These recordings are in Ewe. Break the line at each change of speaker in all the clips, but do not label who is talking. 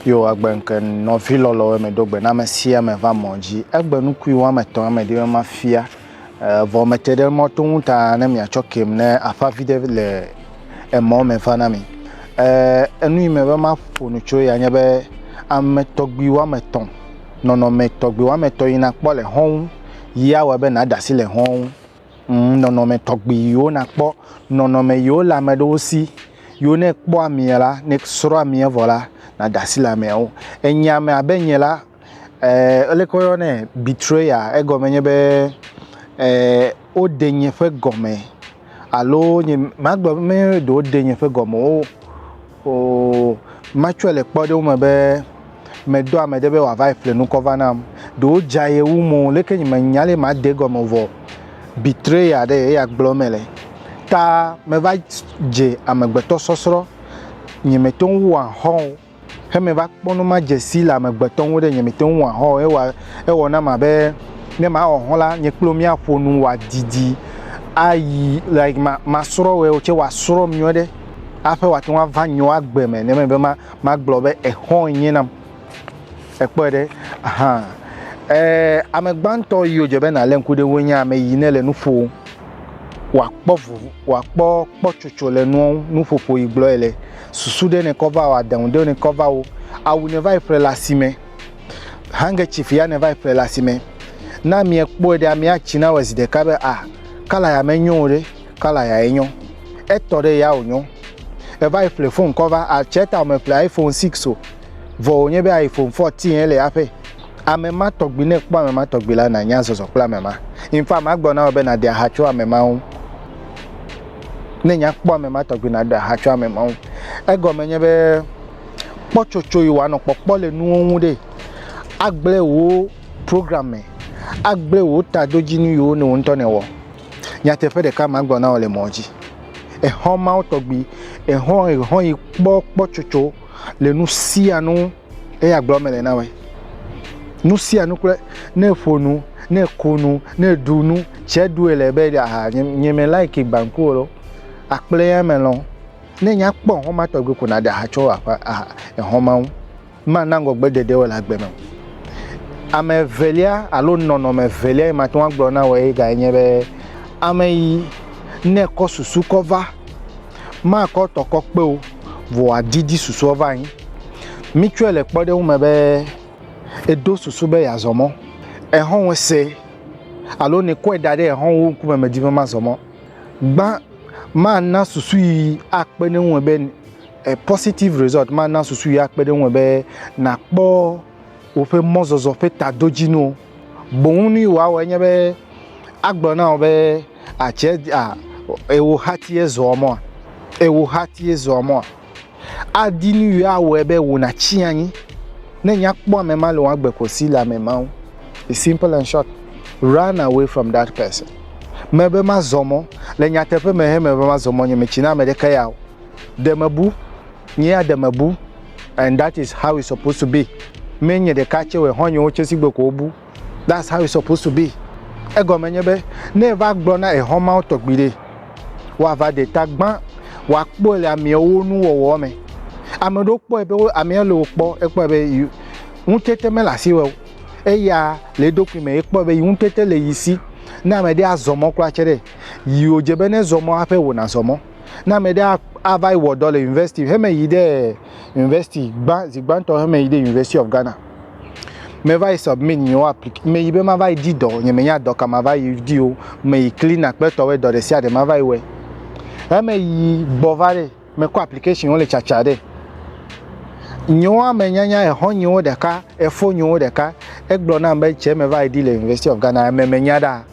yo agbe nke nɔvi lɔlɔwo me do gbe na ame sia ame va mɔ dzi egbe nukui wɔame etɔ̃ ame ɖi ma fia Vɔ mete ɖe mɔ to ŋu ta ne miatsɔ kem ne aƒa vi ɖe le emɔ me va na mi. Enu yi me be maƒo nu tso ya nye be ame tɔgbi woame etɔ̃, nɔnɔme tɔgbi woame etɔ̃ yi nakpɔ le xɔ̃ ŋu yi awɔ be nàda asi le xɔ̃ ŋu. Ŋ, nɔnɔme tɔgbi yiwo nakpɔ, nɔnɔme yiwo le ame ɖewo si yiwo ne ekpɔ amea la, ne esrɔ̃ amea vɔ la, nàda asi le ameawo. Enye ame abe nye la, Ee, leke woyɔnɛ? Betrayer. Egɔme nye be ee, woɖe nye ƒe gɔme alo nye magblɔ be meye ɖe woɖe nye ƒe gɔme o. O matsɔe le kpɔɖeŋu me be medɔ ame ɖe be wòava yi ƒle nu kɔ va nam. Ɖe wodza ye wu mo leke nye menya ale made egɔme o vɔ betrayer ɖe eya gblɔm mele. Ta meva dze amegbetɔsɔsrɔ̃. Nyemete ŋu wɔa xɔ̃ o. Ke meva kpɔ nu ma dze si le amegbetɔ ŋu ɖe nye mete ŋu wɔa hɔ o. Ewa, ewɔ nam abe ne mawɔ hɔ la, nye kple wò míaƒo nu wòadidi ayi like ma masrɔ̃ wòe tsɛ wòasrɔ̃m nyuie ɖe aƒe wòate ŋu ava nyewo agbe me ne mebe ma magblɔ be exɔ enye nam. Èkpɔe ɖe hã. E, ame gbãtɔ yi wòdze be nàlé ŋku ɖe woe nye ame yi ne le nu ƒom wòakpɔ vovo wòakpɔ kpɔtsotso le nuawo nuƒoƒo yi gblɔe le. susu ɖe nekɔ va o, adeŋu ɖe nekɔ va o, awu ne va yi ƒle le asime, handkerchief ya ne va yi ƒle le asime. Ne amea kpɔe ɖe amea tsi na wɔ zi ɖeka be a kala ya menyo o ɖe, kala ya enyo. Etɔ ɖe ya wònyo. Eva yi ƒle fon kɔ va, atsɛ ta wòme ƒle iPhone 6 o. Vɔ wònye be iPhone 14 ye le aƒe. Ame ma tɔgbi ne kpɔ ame ma tɔgbi la nanya zɔzɔ kple ame ma. Infa magblɔ na wò be nàde aha tso ame ma ŋu. Ne nya kpɔ ame ma tɔgbi na ɖa ha tso ame ma ŋu. Egɔme nye be kpɔtsotso yi wanɔ kpɔkpɔ le nuwo ŋu ɖe agble wo program me, agble wo tadodzinu yiwo ne wo ŋutɔ ne wɔ. Nyateƒe ɖeka ma gblɔ na wò le mɔ dzi. Exɔ mawo tɔgbi, exɔ yi kpɔ kpɔtsotso le nu sia nu. eya gblɔ me le na wɛ nu sia nu kple ne ƒo nu ne ko nu ne ɖu nu tse ɖu ele be aha nye me like gbanku o akple ya me lɔ ne nya kpɔ hɔn ma tɔgbe ko na ɖe aha tsɔ aƒe aha ehɔn ma ŋu ma na ŋgɔgbe dede wɔ le agbe me ame evelia alo nɔnɔme evelia yi ma tɔn agblɔ na wɔ ye ga nye be ame yi ne kɔ susu kɔ va Makɔ tɔ kɔ kpe o vɔ wòadidi susua va anyi. Mítsɔe le kpɔɖeŋu me be edo susu be yeazɔ mɔ. Exɔ̃wɔe se alo ne ekɔe da ɖe exɔ̃wòwo ŋkume medi be mazɔ mɔ. Gbã, mana susu yi akpe ɖe eŋu me be, positive result, mana susu yi akpe ɖe eŋu me be nàkpɔ woƒe mɔzɔzɔ ƒe tadodzinuwo. Boŋ nu yi wòawɔ enye be agblɔ na wo be, Àtsi a ewò hatie zɔa mɔa? Ewò hatie zɔa mɔa? Adi nu yi awɔe be wò nàtsi anyi ne nya kpɔ ame ma le wò agbe ko si le ame ma ŋu. It's simple and short. Run away from that person. Mebe mazɔ mɔ. Le nyateƒe me he mebe mazɔ mɔ nye metsi na ame ɖeke ya o. de mebu nyea de mebu and that is how it's supposed to be me nye ɖeka tse wɔ hɔnyewo tse si gbe ko wobu that's how it's supposed to be egɔme nye be ne eva gblɔ na ehɔmawo tɔgbi ɖe wòava ɖe ta gbã wòakpɔe le ameawo nuwɔwɔ me ame ɖewo kpɔe be amea le wokpɔ ekpɔe be ŋutete mele asi wɔ eya le eɖokui me ekpɔe be yi ŋutete le yi si ne ame ɖe azɔ mɔ kura tse ɖe yi wòdze be ne zɔ mɔ hafi wòna zɔ mɔ Ne ame ɖe ava yi wɔ dɔ le university heme yi ɖe university gbã zi gbãtɔ heme yi ɖe University of Ghana me va yi submit nye wo applic me yi be ma va yi di dɔ nye me nya dɔ ka ma va yi di o me yi clean akpɛtɔ wɛ dɔ ɖe sia ɖe ma va yi wɛ heme yi gbɔ va ɖe me kɔ application wo le tsatsa ɖe nye wo ame nyanya exɔ nye wo ɖeka efo nye wo ɖeka egblɔ nam be tse me va yi di le University of Ghana me me nya ɖa.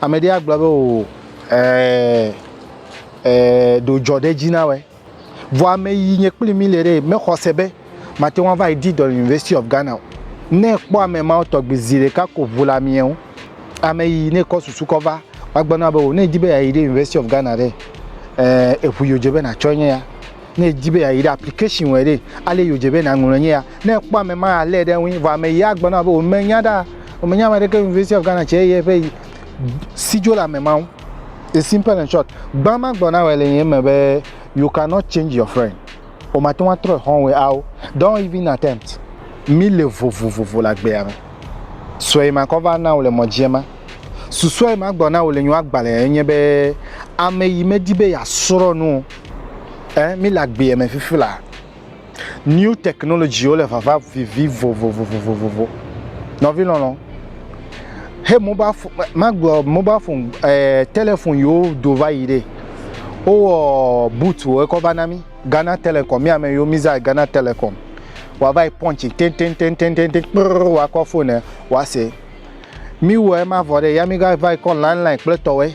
Ame ɖe agblɔ be o ɛɛ ɛɛ ɖo dzɔ ɖe dzi na wɛ. Vɔ ame yi nye kpli mi le ɖe mexɔ se be mate ŋu ava yi di dɔ le University of Ghana o. Ne ekpɔ ame mawo tɔgbi zi ɖeka ko ŋu le amiɛ ŋu. Ame yi ne kɔ susu kɔ va woagbe na be o ne edi be yeayi ɖe University of Ghana ɖe ɛɛ eŋu yi wodze be natsɔ nye ya. Ne èdi be yeayi ɖe application wɔe ɖe, ale yi wòdze be nàŋlɔe nye ya. Ne èkpɔ ame ma alé ɖe eŋui, vɔ ame ɣia agblɔ na wò be wòmenya ɖa, wòmenya ame aɖeke University of Ghana tsɛ ye ƒe si dzo le ame ma ŋu. It's simple and short. Gbã magblɔ na wòe le nye eme be, you cannot change your friend. Wòmate ŋu atrɔ xɔ̃wòe ao. Don't even attempt. Míle vovovo le agbea me. Sue ma kɔ va na wò le mɔ dzi ema. Susua yi magblɔ na wò le nye agbalẽa enye be, ame yi medi be yeasrɔ̃ nu o. Ɛɛ, míle agbeɛ me fifila. New technologywo le vava vivi vovovovovovo. Nɔvi lɔlɔ, he mobile phone, magblɔ mobile phone, ɛɛ, telefon yiwo do va yi ɖe. Wowɔ bootwo ekɔ va na mí. Ghana Telecom, mí ame yiwo mí zã Ghana Telecom. Wa va yi punch tɛntɛntɛntɛntɛntɛ kprrrr wa kɔ phone wa se. Mí wɔ ema vɔ ɖe ya mí ga va yi kɔ line line kple tɔwɛ.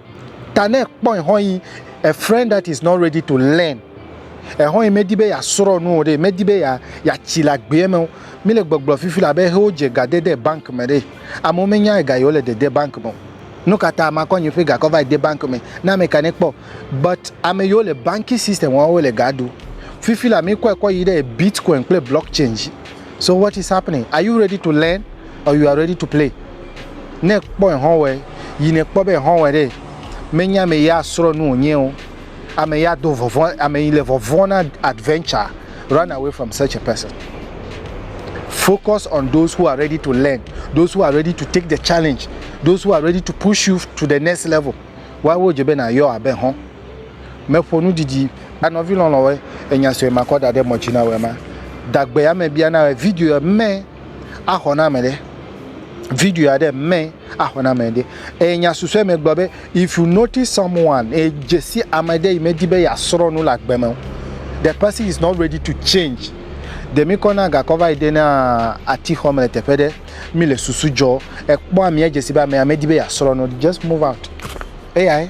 Ta ne ekpɔe hɔ̃ yi a friend that is not ready to learn, ehɔ̃ yi medi be yeasrɔ nu o ɖe, medi be ya yatsi le agbeɛ me o. Mi le gbɔgblɔ fifi le abe ehe wo dze ga dede bank me ɖe. Amewo me nya ega yi wo le dede bank me o. Nu ka ta makɔ nye ƒe ga kɔ va yi de bank me na ame ka ne kpɔ? But ame yi wo le banking system wɔm wo le ga ɖu. Fifi la mi kɔe kɔ yi ɖe bitcoin kple blockchain dzi. So what is happening are you ready to learn or you are ready to play ne ekpɔ ehɔn wɛ yi ne ekpɔ be ehɔn wɛ ɖe me nye ame ya srɔ nu wonye o ame ya do vɔvɔ ame yi le vɔvɔ na adventure run away from such a person focus on those who are ready to learn those who are ready to take the challenge those who are ready to push you to the next level wa wo je be na yɔ abe hɔn Meƒo nu didi a nɔvi lɔlɔ̃wɔe enya sue makɔ da ɖe mɔ dzi na wòe ma. Dagbe ya me bia na wòe video ya me axɔ na ame ɖe. Video ya ɖe me axɔ na ame ɖe. Eye nya susue me gblɔ be if you notice someone e dzesi ame ɖe yi me di be ya srɔ nu le agbe me o the person is not ready to change de mi kɔ na gakɔ va yi de na ati xɔ me le teƒe ɖe mi le susu dzɔ ekpɔ amia dzesi be amea me di be ya srɔ nu just move out eyae.